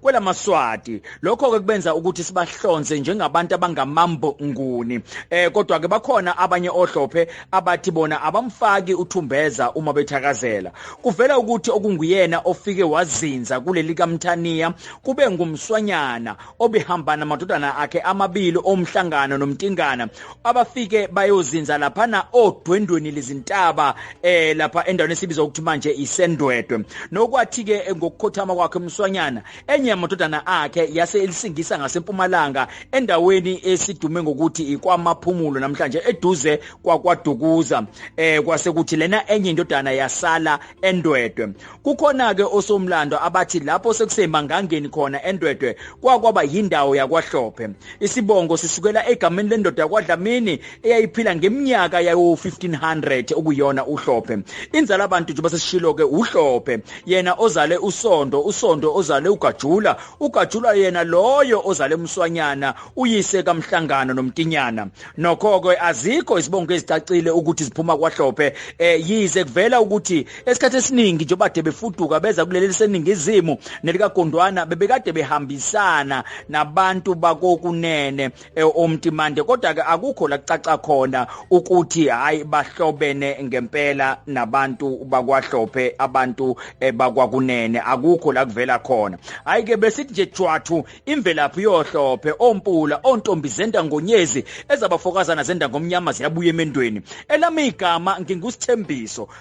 kwelamaswati lokho ke kubenza ukuthi sibahlonze njengabantu abangamambo nguni eh kodwa ke bakhona abanye ohlophe abathi bona abamfaki uthumbeza uma bethakazela kuvela ukuthi okunguyena ofike wazinza kuleli kaMthaniya kube ngumswanyana obehambana madodana akhe amabili omhlangano nomtingana abafike bayozinza laphana odwendweni lezintaba eh lapha endaweni esibiza ukuthi manje isendwedwe nokwathi ke eh, ngokukhothama kwakhe umswanyana enye yamadodana akhe yase elisingisa ngasempumalanga endaweni esidume ngokuthi ikwamaphumulo namhlanje eduze kwakwadukuza eh kwase kuthi lena enye indodana yasala endwedwe Kukhona-ke osomlando abathi lapho sekusemangangeni khona endwedwe kwakwaba yindawo yakwahlophe. Isibongo sisukela egameni lendoda yakwadlamini eyayiphila ngeminyaka yawo-1500 okuyona uhlophe. Inzala bantu njengoba sesishilo-ke uhlophe yena ozale usondo usondo ozale ugajula ugajula yena loyo ozale umswanyana uyise kamhlangano nomtinyana nokho-ke azikho izibongo ezicacile ukuthi ziphuma kwahlophe um yize kuvela ukuthi Esikhathi esiningi njengoba de befuduka beza kuleli liseningizimu nelikagondwana bebekade behambisana nabantu bakokunene e, omtimande kodwa ke akukho la kucaca khona ukuthi hayi bahlobene ngempela nabantu bakwahlophe abantu e, bakwakunene akukho la kuvela khona hayi ke besithi nje jwathu imvelaphi yohlophe ompula ontombi zenda ngonyezi ezabafokazana zenda ngomnyama ziyabuya emendweni elami igama ngingusithembiso